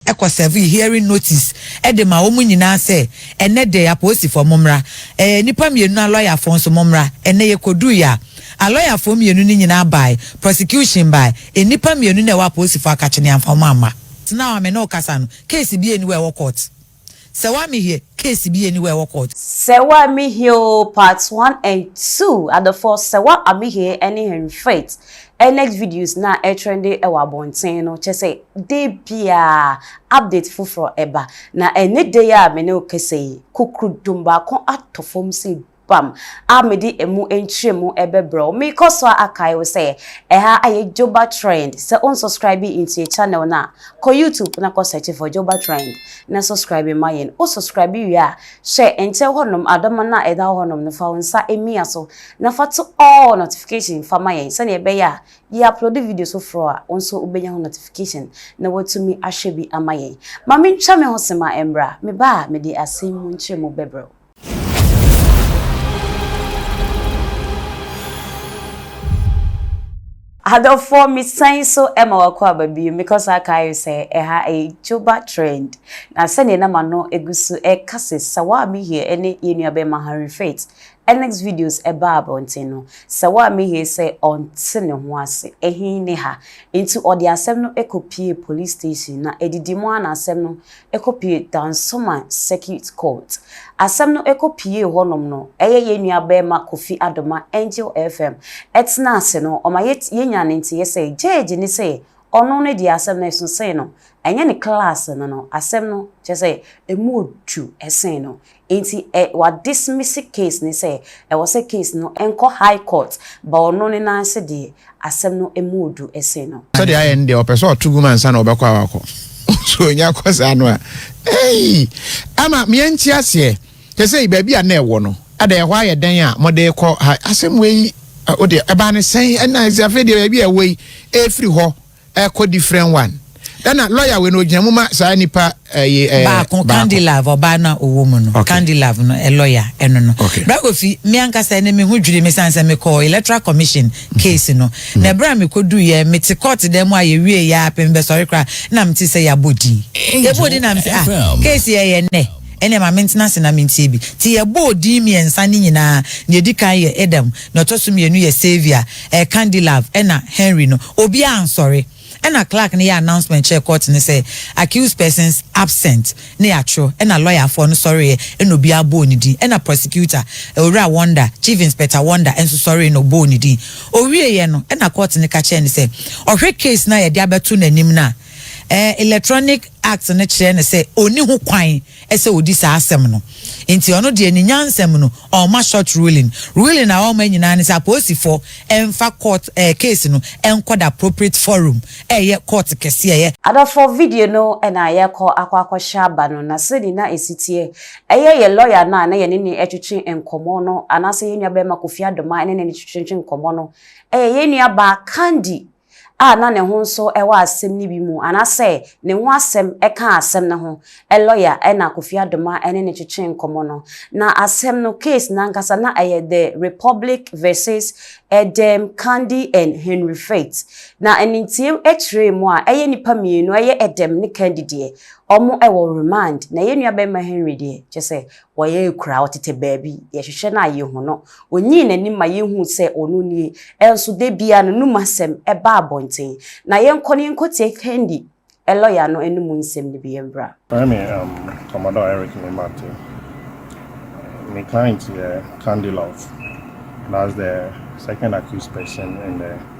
kɔ sɛvee hearing notice de ma wɔn nyinaa sɛ ɛnnɛ dɛ apoosifoɔ mommra, ɛɛ nnipa mmienu alɔyafoɔ nso mommra, ɛnnɛ yɛkɔduui a alɔyafoɔ mmienu no nyinaa baae, prosecution baae, nnipa mmienu no a ɛwɔ apoosifoɔ akakye no yɛamfa wɔn amma. Now a me ne wo kasa no, case biara nni hɔ a ɛwɔ court. Sɛ waa me hiɛ case bi aniwa ɛwɔ court. Sɛ waa me hiɛ oo part one and two adɔfoɔ sɛ wa a me hiɛ ɛne Henry Faith next videos no a ɛtrɛnde ɛwɔ abɔnten no kyɛ sɛ da biaa update foforɔ ɛba na ɛne da yi a me ne wo kasa yi kokorodom baako atɔ fam sɛ Guam a mede emu nkyerɛmu bɛbrɛ wo. Mekɔ so a akae wo sɛ ɛha ayɛ Joba Trend. Sɛ wonsubscribe ntie channel no a, kɔ YouTube na kɔ search for Joba Trend na subscribe ma yɛn. Wo subscribe wie a, hwɛ nkyɛn hɔnom adɔma no a ɛda hɔ hɔnom no, fa wo nsa mia so na fa to all notification fa ma yɛn sɛnea ɛbɛyɛ a yɛ upload videos foforɔ a, wo nso wobɛnya ho notification na woatumi ahwɛ bi ama yɛn. Ma mentwa me ho sema mmra, meba a mede asɛm mu nkyerɛmu bɛbrɛ wo. Adɔfoɔ mesan so ma wakɔ aba bio mekɔ so aka ayɛ sɛ ɛha ɛyɛ Joba Trend na sɛdeɛ na m'ano gu so ɛka sɛ Sawa Mihie ɛne yɛn nua bɛrima Henry Faith next videos ɛbaa abɔnten no Sawa Mihie sɛ ɔnte ne ho ase ɛhe ne ha nti ɔde asɛm no kɔ pie police station na ɛdidi mu ara na asɛm no Ɛkɔpue Dansoma Circuit Court. Asɛm no ɛkɔpuee hɔnom no, ɛyɛ yɛn nua barima Kofi Adoma, Angel FM, ɛtenaa ase no, ɔma yɛnyaa ne nteeɛ sɛ, Gyɛɛgye no sɛ ɔno ne deɛ asɛm no ɛso sen no, ɛnyɛ ne klaase no no, asɛm no, kyerɛ sɛ, ɛmu ɔdu sen no. Nti ɛ wa dismisse case no sɛ ɛwɔ sɛ case no nkɔ high court but ɔno ne nan ase deɛ asɛm no ɛmu ɔdu ɛsen no. Sɛdeɛ ayɛ no deɛ ɔpɛ sɛ ɔto gum ansa na ɔbɛkɔ a wakɔ so ɔnya kɔ saa no a eii ama meɛ nte aseɛ sɛsɛi baabi a na ɛwɔ no ɛdɛ ɛhɔ ayɛ dɛn a mode kɔ ha asɛm wei wodeɛ ɛbaa ne sɛn ɛna ɛsɛ afei deɛ baabi a ɛwɔ yi ɛfiri hɔ ɛkɔ different one ɛna lawyer wei no ogyina mu ma saa nipa ɛyi eh, ɛɛ eh, baako candilove ɔbaa no a ɔwɔ mu no okay. candilove no ɛ lawyer ɛno no okay. brakofi mi ankasa ɛne mi ho dwiri mi san sɛ mi kɔ electoral commission mhm. case no mhm. na ɛbɛrɛ mi kɔ du yɛ mi ti court dɛm mu a yɛ wie yɛ apɛm bɛ sɔre kora na mi ti sɛ yɛ abɔ din yɛ bɔ din na mi sɛ ah case yɛ yɛ nnɛ ɛnna maame ntena se na mi ntie bi ti yɛ bɔ din mmiɛnsa ne nyinaa na yɛ di kan yɛ ɛdɛm. Na ɔtɔ so mmienu yɛ Sylvia, ɛɛ Candylove ɛna Henry no. Obiara ansɔre. Ɛna clerk no yɛ announcement kyerɛɛ court no sɛ accused persons absent na yɛatwerɛ. Ɛna lɔyafoɔ no sɔreeɛ ɛna obiara bɔɔ ne din. Ɛna prosecutor, Owura Wonder, Chief Inspector Wonder nso sɔree na ɔbɔɔ ne din. Ɔwieeɛ no, ɛna court no ka kyerɛɛ no sɛ ɔhwɛ case no a yɛde abɛto n'anim no a, ɛɛ electronic act no kyerɛ no sɛ ɔnni ho kwan sɛ ɔdi saa asɛm no nti ɔno deɛ ne nyansam no ɔmma short ruling, ruling a ɔmma nyinaa ne sɛ apoosifoɔ mfa court ɛɛ case no nkɔ the appropriate forum ɛyɛ court kɛseɛ yɛ. Adɔfoɔ video no na yɛkɔ akɔ akɔhyɛ aba no na sɛdeɛ na ɛsi teɛ ɛyɛ yɛn lawyer no a na yɛne no ɛtwetwe nkɔmmɔ no anaasɛ yɛn nua barima Kofi Adomaa ne no ɛtwetwe nkɔmmɔ no ɛyɛ yɛn nua baa Candy a na ne ho nso wɔ asɛm no bi mu anaasɛ ne ho asɛm kaa asɛm no ho lɔya na Kofi Adoma ne no twetwee nkɔmmɔ no. Na asɛm no, case no ankasa na ɛyɛ The Republic versus Edem Kandi and Henry Faith. Na animtiam kyerɛɛ mu a, ɛyɛ nnipa mmienu, ɛyɛ Edem ne Kandi deɛ, wɔwɔ remand, na yɛn nuabarima Henry deɛ, kyerɛ sɛ ɔyɛ akuraa, ɔtete baabi, yɛhwehwɛ no a yɛhu no, ɔnyi n'anim ma yɛhu sɛ ɔno nie, nso da biara no anum asɛm ba abɔnten, na yɛnkɔ na yɛnkɔtie Thandi, lɔya no anum nsɛm no bi mmra. Mefrɛ me Commodore Eric Nimate. Me client yɛ Thandi Love, that's the second accused person in the.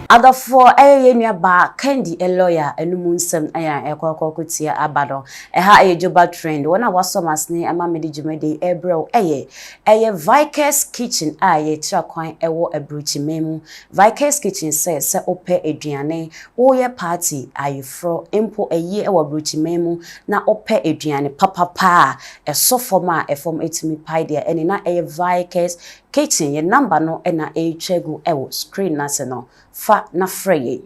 Adɔfoɔ ɛyɛ yɛn nua baa Candy Eloya anumu nsɛm ɛyɛ a ɛkɔ kɔ kɔ tia aba no ɛha ɛyɛ Joba Trend wɔn a wɔasɔ m'asene ɛma me de dwumadi ɛrebrɛ wo ɛyɛ ɛyɛ Vikers Kitchen a yɛn tra kwan ɛwɔ Abrukyiman mu Vikers Kitchen sɛ sɛ wo pɛ aduane wo yɛ party ayeforɔ mpo ayie ɛwɔ Abrukyiman mu na wo pɛ aduane papapa a ɛsɔ fam a ɛfam ɛtumi pae deɛ ɛne na ɛyɛ Vikers Kitchen, yɛn number no na ɛretwa agu wɔ screen no ase no, fa na frɛ yɛn.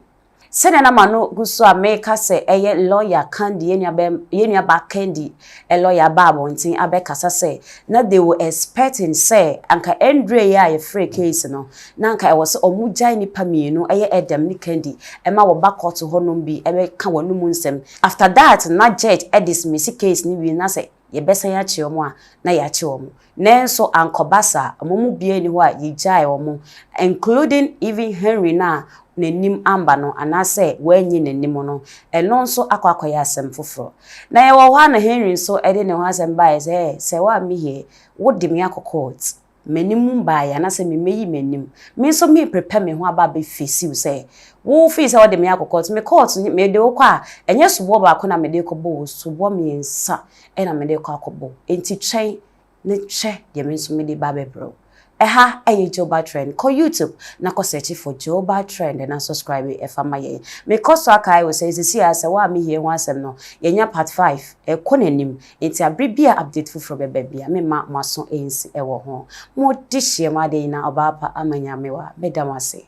Sɛnea na m'ano gu so a mereka sɛ ɛyɛ lawyer Candy, yɛn nuabɛm, yɛn nuabaa Candy lawyer aba abɔnten abɛkasa sɛ na they were expecting sɛ anka ɛnduree yɛ a yɛfrɛɛ case no, na anka ɛwɔ sɛ wɔgyae nnipa mmienu, ɛyɛ Edem ne Candy, ma wɔba kɔɔto hɔnom bi bɛka wɔn anom nsɛm. After that na judge dismiss case no wie na sɛ yɛbɛsan akye wɔn a, na yɛakye wɔn. Nanso ankɔba saa, wɔn mu biara nni hɔ a yegyaee wɔn, including even Henry no a n'anim amba no anaasɛ wɔannye n'anim no, ɛno nso akɔ akɔyɛ asɛm foforo. Na yɛwɔ hɔ a na Henry nso de ne ho asɛm baeɛ sɛ, Ɛɛ, sɛ woamme here, wode me akɔ court, m'anim mbaeɛ anaasɛ memmɛyi m'anim, me nso me prepare me ho aba abɛ face wo sɛ wo firi sɛ wode me akɔ court, me court, mede wo kɔ a, ɛnyɛ soboɔ baako na mede rekɔbɔ wo, soboɔ mmiɛnsa. na mede rekɔ akɔbɔ, enti twɛn na hwɛ deɛ me nso mede ba abɛbrɛ wo. Ɛha yɛ Joba Trend. Kɔ YouTube na kɔ search for Joba Trend na subscribe fa ma yɛn. Mekɔ so akae wo sɛ seesei ara sɛ wo a mihie ho asɛm no, yɛanya part five, ɛrekɔ n'anim, enti abere bi a update foforɔ bɛba biara, meremma mo aso ansi wɔ ho. Mo dehyeɛm Adeyina Ɔbaapa Amanyamewa, meda mo ase.